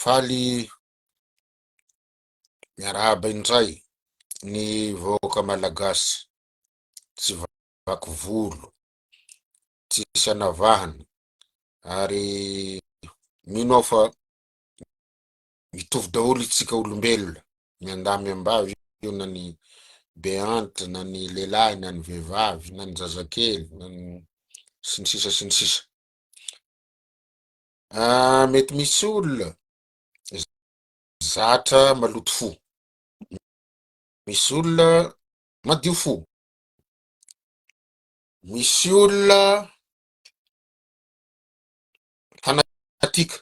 Faly miarahaba indray ny vahoaka malagasy tsy vaky volo, tsisy anavahana ary mino aho fa mitovy daholo itsika olombelona ny andamy ambavy io na ny beante na ny lehilahy na ny vehivavy na ny zazakely na ny sy ny sisa sy ny sisa. Ah, mety misy olona zatra maloto fo. Misy olona madio fo. Misy olona fanatika.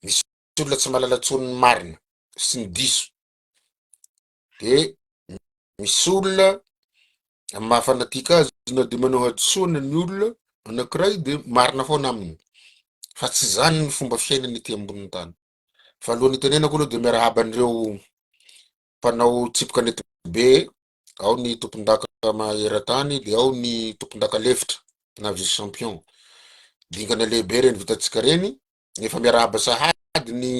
Misy olona tsy malala tsony ny marina sy ny diso. de misy olona amin'ny maha fanatika azy na de manao hadisoana ny olona anankiray de marina foana aminy fa tsy zany ny fomba fiainana ety ambonin'ny tany fa alohan'ny hitenenako aloha de miarahaba an'ireo mpanao tsipika nety be ao ny tompondaka maheran-tany de ao ny tompondaka lefitra na vice champion dingana lehibe reny vitantsika reny efa miarahaba sahady ny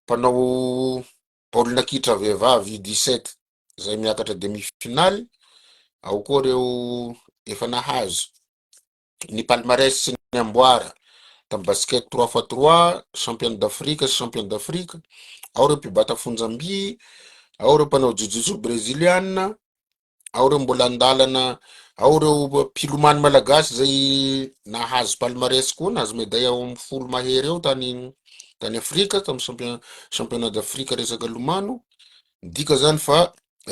mpanao baolina kitra vehivavy U dix sept izay miakatra demi finale, ao koa ireo efa nahazo ny palmarès sy ny amboara tamin'ny basket trois fois trois, championne d'Afrique sy champion d'Afrique, ao ireo mpibata fonjam-by, ao ireo mpanao jiu-jitsu breziliana, ao ireo mbola an-dalana, ao ireo mpilomano malagasy izay nahazo palmarès koa, nahazo medaille ao amin'ny folo mahery eo tany tany Afrika, tamin'ny champion- championnat d'Afrique resaka lomano. Midika izany fa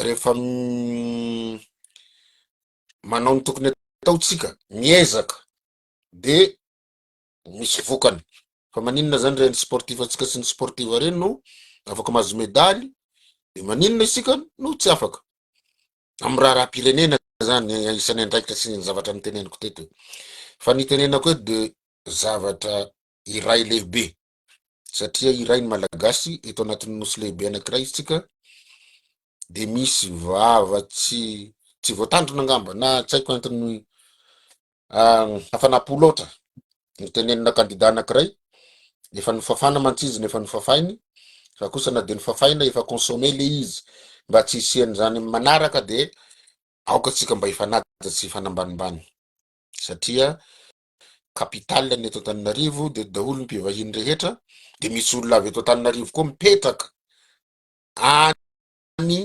rehefa m- manao ny tokony atao tsika, miezaka, dia misy vokany fa maninona zany reny sportif antsika sy ny sportive reny no afaka mahazo medaly de maninona isika no tsy afaka amin'ny raharaham-pirenena zany isan'ny andraikitra sy ny zavatra niteneniko teto fa ny tenenako hoe de zavatra iray lehibe satria iray ny malagasy eto anatin'ny nosy lehibe anakiray isika de misy vava tsy tsy voatandrina angamba na tsy haiko antony Hafana po loatra no tenenina kandida anankiray, efa nofafana mantsy izy no efa nofafainy, fa kosa na dia nofafaina efa consommer le izy, mba tsy hisian'izany amin'ny manaraka dia aoka tsika mba hifanaja sy hifanambanimbany satria capital ny eto Antananarivo dia daholo ny mpivahiny rehetra dia misy olona avy eto Antananarivo koa mipetraka any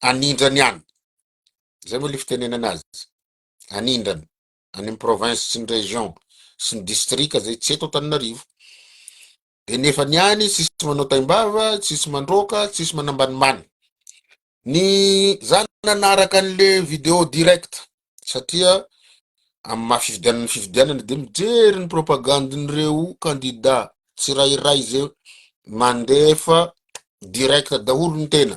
anindrany any, zay moa le fitenenana azy. anindrana any am province sy ny region sy ny distrika zay tsy eto Antananarivo de nefa ny any tsisy manao taimbava tsisy mandroaka tsisy manambanimbany ny za nanaraka an'le video direct satria am maha fifidianana ny fifidianana de mijery ny propagandin'ireo kandida tsirairay zay mandefa direct daholo ny tena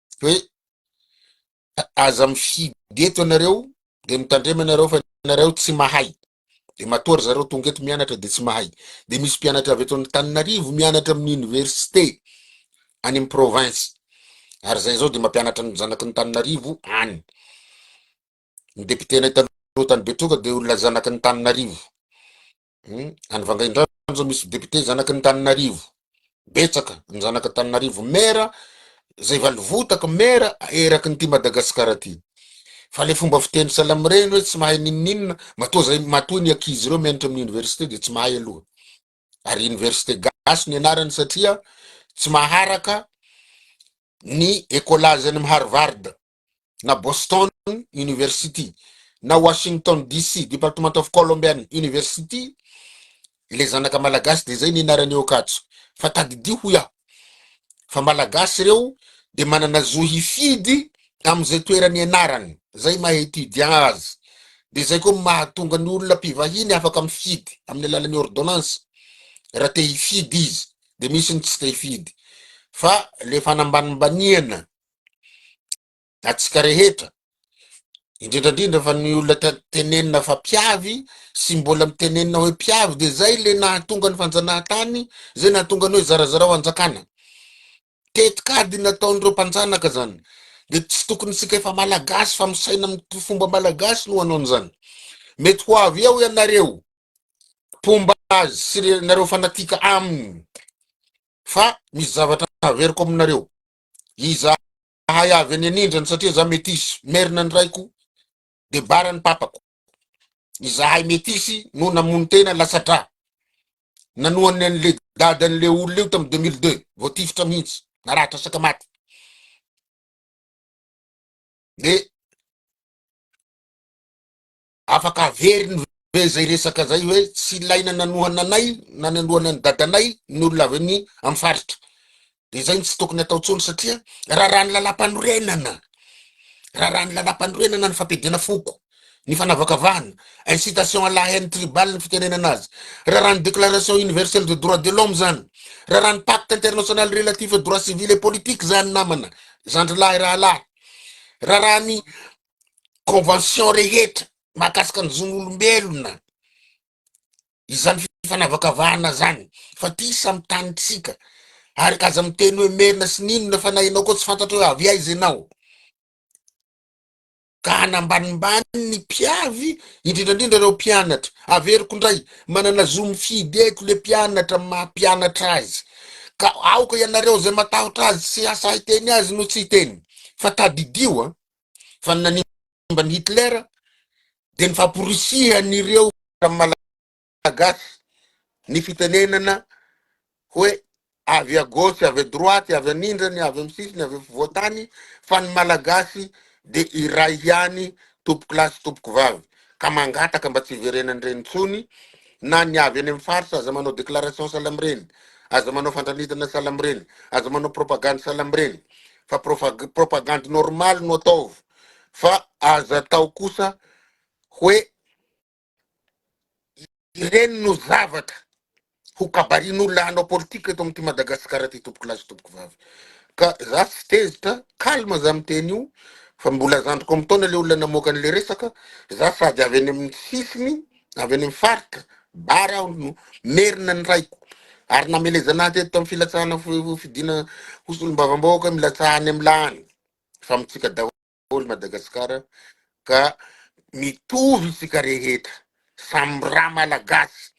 hoe aza mifidy eto ianareo dia mitandrema ianareo fa ianareo tsy mahay dia matoa ry zareo tonga eto mianatra dia tsy mahay dia misy mpianatra avy eto Antananarivo mianatra amin'ny université any amin'ny province ary izay izao dia mampianatra ny zanaky ny Tananarivo any ny depitenay taloha tany Betroka dia olona zanaky ny Tananarivo Any Vangaindrano zao misy député zanaky ny Taninarivo, betsaka ny zanaka Taninarivo maire zay valivotaka maire eraky ny ty Madagascar ty, fa le fomba fiteny Salamireny hoe tsy mahay ninoninona matoa zay matoa ny ankizy reo mianatra amin'ny université de tsy mahay aloha, ary université gasy ny anarany satria tsy maharaka ny écolage any amin'ny Harvard na Boston University, na Washington DC, Department of Columbian University, ilay zanaka malagasy dia izay ny anarany eo Ankatso. Fa tadidio hoy aho, fa malagasy ireo dia manana zo hifidy amin'izay toerana ianarany, izay maha étudiant azy. Dia izay koa mahatonga ny olona mpivahiny afaka mifidy amin'ny alalan'ny ordonnance, raha te hifidy izy, dia misy ny tsy te hifidy. Fa ilay fanambanimbaniana Antsika rehetra, indrindra indrindra fa ny olona tenenina fa mpiavy sy mbola mitenenina hoe mpiavy dia zay le nahatonga ny fanjanahantany, zay nahatonga ny hoe zarazarao hanjakana. Tetikady nataon'ireo mpanjanaka zany. Dia tsy tokony isika efa malagasy fa misaina amin'ny fomba malagasy no hanao an'izany. Mety ho avy eo ianareo mpomba azy sy ianareo fanatika aminy fa misy zavatra haveriko aminareo. Izahay avy any anindrany satria za metisy, merina ny raiko de bara ny papako. Izahay metisy no namono tena latsa-dra. Nanohana an'le dadan'le olona io tamin'ny 2002, voatifitra mihitsy, naratra sakamaty. De Afaka averiny ve izay resaka izay hoe tsy ilaina nanohana anay na nanohana an'i dadanay ny olona avy any amin'ny faritra? Dia izay no tsy tokony atao intsony satria raràn'ny Lalàmpanorenana. Raràn'ny Lalàmpanorenana ny fampiadiana foko, ny fanavakavahana, incitation à la haine tribale ny fitenenana azy. Raràn'ny Déclaration universelle des droits de l'homme izany. Raràn'ny Pacte international relatif aux droits civils et politiques izany namana, zandrilahy rahalahy. Raràn'ny convention rehetra mahakasika ny zon'olombelona izany fifanavakavahana zany fa ty samy tanintsika ary aza miteny hoe merina sy n'inona fa na ianao koa tsy fantatra hoe avy aiza ianao ka hanambanimbany ny mpiavy indrindra indrindra ireo mpianatra averiko indray manana zo mifidy eto le mpianatra maha mpianatra azy ka aoka ianareo zay matahotra azy sy asa hiteny azy no tsy hiteny fa tadidio a fa ny nanimba an'i Hitler dia ny famporisihan'ireo malagasy ny fitenenana hoe avy à gauche, avy à droite, avy anindrany, avy amin'ny sisiny, avy afovoan-tany fa ny malagasy dia iray ihany tompoko lahy sy tompoko vavy ka mangataka mba tsy hiverenan'ireny intsony na ny avy any amin'ny faritra aza manao déclaration sahala amin'ireny, aza manao fandranitana sahala amin'ireny, aza manao propagande sahala amin'ireny fa propagandy normaly no ataovy fa aza atao kosa hoe ireny no zavatra ho kabarin'olona hanao politika eto amin'ity Madagasikara ty tompoko lahy sy tompoko vavy ka za tsy tezitra calme za miteny io fa mbola zandriko am taona le olona namoaka an'le resaka za sady avy any amin'ny sisiny avy any amin'ny faritra Bary aho no merina ny raiko ary namelezana ahy teto tamin'ny filatsahana fi- fidiana ho solombavambahoaka milatsaha any amin'ny lany fa mitsika daholo Madagasikara ka mitovy isika rehetra samy ra malagasy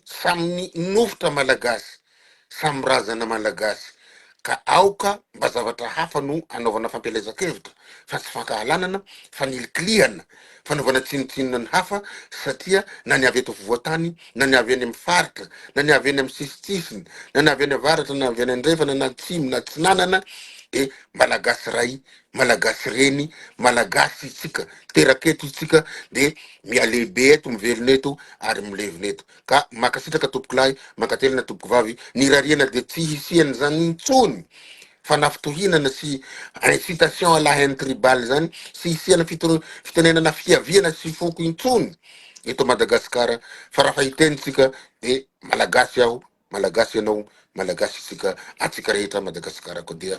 samy nofotra malagasy samy razana malagasy ka aoka mba zavatra hafa no anaovana fampielezan-kevitra fa tsy fankahalanana, fanilikilihana, fanaovana tsinotsinona ny hafa satria na ny avy eto afovoan-tany na ny avy eny amin'ny faritra na ny avy eny amin'ny sisintsisiny na ny avy eny avaratra na avy eny andrefana na atsimo na atsinanana dia malagasy ray, malagasy reny, malagasy itsika, teraka eto itsika dia mialehibe eto, mivelona eto ary milevina eto. ka makasitraka tompoko lahy mankatelina tompoko vavy ny rariana dia tsy hisian zany intsony fanafitohinana sy incitation à la haine tribale zany sy hisiana fitoro fitenenana fiaviana sy foko intsony eto Madagascar fa raha fa hiteny tsika dia malagasy aho malagasy ianao malagasy isika atsika rehetra Madagascar koa dia